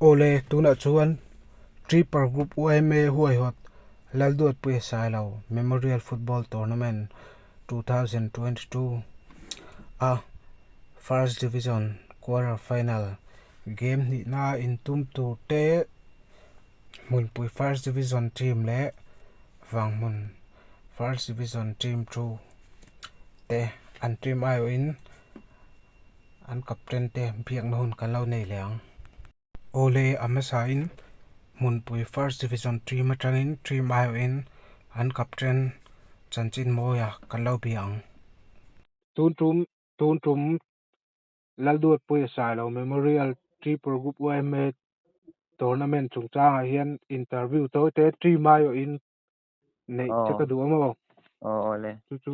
Awle, tunah chuan Tripper Group UMA huaihawt Lalduatpuia Sailo Memorial Football Tournament 2022 a First Division Quarter Final game hnihna in tum tur te Hmunpui First Division Team leh Vanghmun First Division Team thu te an team aiawh in an captain te biakna hun kan lo nei leh ang. Ole Amesa in hmunpui first division team atangin team aihawh in an captain chanchin mawi a kan lo biak ang. Tun tum tun tum Lalduatpuia Sailo Memorial Tripur Group UMA tournament chungchang ah hian interview tawi te team aihawh in neih che ka duh a maw? Aw awle. Chu chu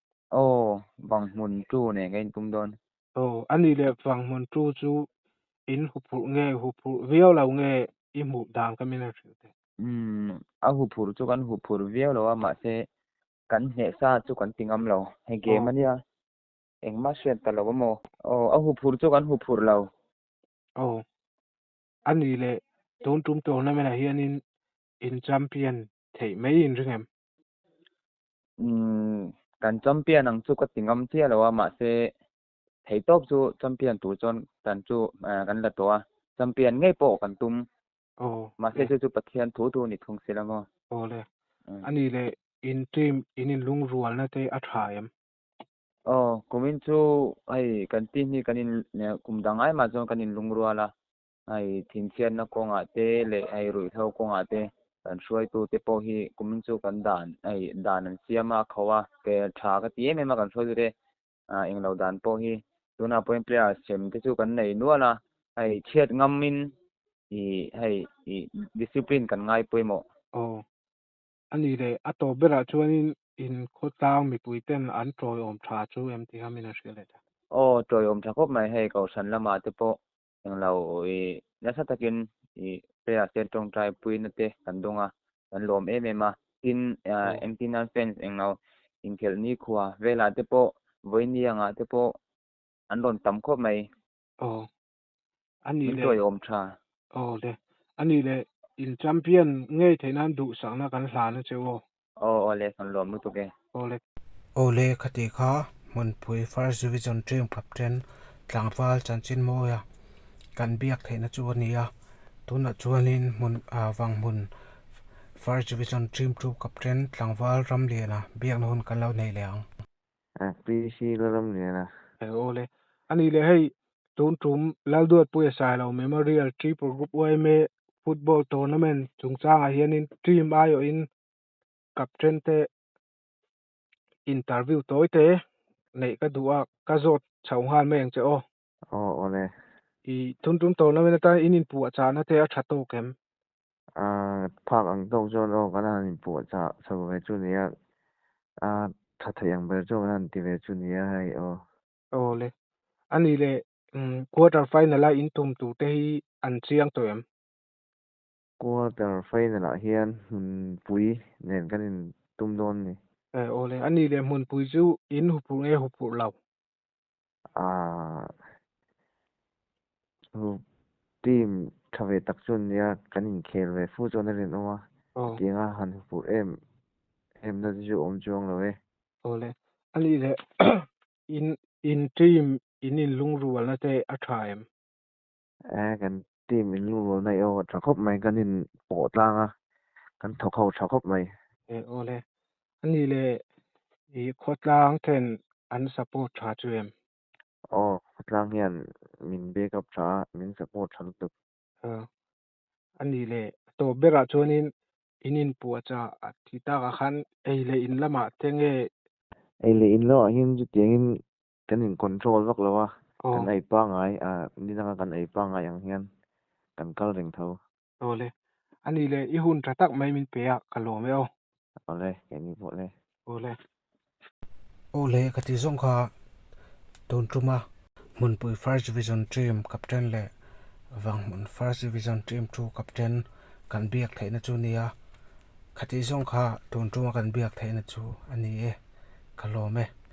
Aw, Vanghmun tu nen ka intum dawn. Aw, a ni le, Vanghmun tu chu in huphurh nge, huphurh viau lo nge i hmuh dan ka min hrilh teh. Umm, a huphurh chu kan huphurh viau lo a, mahse kan hneh sa chu kan ti ngam lo. Hei game a nia, engmah hriat ta lo a maw? Aw, a huphurh chu kan huphurh lo. Aw, a ni le, tun tum tawh hna menah hianin in champion theih mai in ring em? kan champion ang chu ka ti ngam chiah lo a mahse thei tawp chu champion tur chuan kan chu kan la tawh a champion ngei pawh kan tum oh mahse chu chu pathian thu thu ni thung sila maw oh le mm. ani le in team in in lung rual na te a tha em oh kumin chu ai kan ti ni kan in kum dang ai ma chuan kan in lung ruala hei thinfiatna kawngah te leh hei ruihhlo kawngah te kan hruaitu te pawh hi kumin chu kan dan hei dan an siam a a kho a ke tha ka ti em em a kan hruaitu te ah englo dan pawh hi tunah pawhin players ṭhen te chu kan nei nual a hei chhiat ngam in ih hei ih discipline kan ngai pawimawh. Aw a nih leh a tawp berah chuanin in khawtlang mipui ten an ṭawiawm ṭha chu em tihian min a hriat leh ta. Aw ṭawiawm ṭha khawp mai hei kohhran lamah te pawh Heng lo i nasa takin i player te tawngtai puina te kan dawng a, kan lawm em em a. Tin engtin nan fans englo inkhelh nikhua velah te pawh vawinia-nga te pawh an rawn tam khawp mai. Aw. A nih leh. Min tuai awm tha. Aw le. A nih leh in champion ngei theih nan duhsakna kan hlan a che aw. Aw aw le sawn luam lutuk e. Aw le. Aw le ka tih kha Hmunpui first division ṭim kap ṭen tlangval chanchinmawia kan biak theihna chu a ni a, tunah chuanin hmun ah Vanghmun first division ṭim ṭum kap ṭen tlangval ramliana biakna hun kan lo hneih leh ang. PC la ram lian a. Eng aw le. A nih leh hei, tun tum Lalduatpuia Sailo Memorial Triple Group UMA Football Tournament chungchangah hianin team aiawh in captain te interview tawi te neih ka duh a, ka zawt chho nghal mai ang che aw. Aw aw le. I tun tum tawh lovin atan in in puh a chah nate a tha tawk em? Aaa phak ang tawk chuan aw kan han in puh a chah chho ve chu nia aa tha theih ang ber chu kan han ti ve chu nia hei aw. Aw le. A nih leh quarter final a in tum tur te hi an chiang tawh em? Quarter final ah hian hmunpui nen kan in tum dawn a ni. Aw le. A nih leh hmunpui chu in hupurh nge hupurh lo? Aaa hu team tha ve tak chuan nia kan inkhel ve fu chuan a rinawm a tianga han hupurh em em na te chu awm chuang lo e. Aw le a nih leh in in team in inlungrualna te a tha em? Ehh kan team in lungrul na eo tha khawp mai kan in pawh tlang a kan thawk ho tha khawp mai. He awle ani le i khawtlang ten an support tha chu em. Aw khawtlang hian min back up tha a min support tha lutuk. Aw ani le tawp berah chuanin in inpuah cha a ti takah khan ei leh in lamah te nge. Ei leh in lamah hian chutiangin kan in control vak lo a kan ei pangai a ninang a kan ei pangai ang hian kan kal reng tho awle ani le i hun tha tak mai min pe a ka lawm e aw awle keini pawh le awle awle ka ti zawng kha tun tum a hmunpui first division team captain le vanghmun first division team two captain kan biak theih na chu nia kha ti zawng kha tun tuma kan biak theih na chu ani e ka lawm e.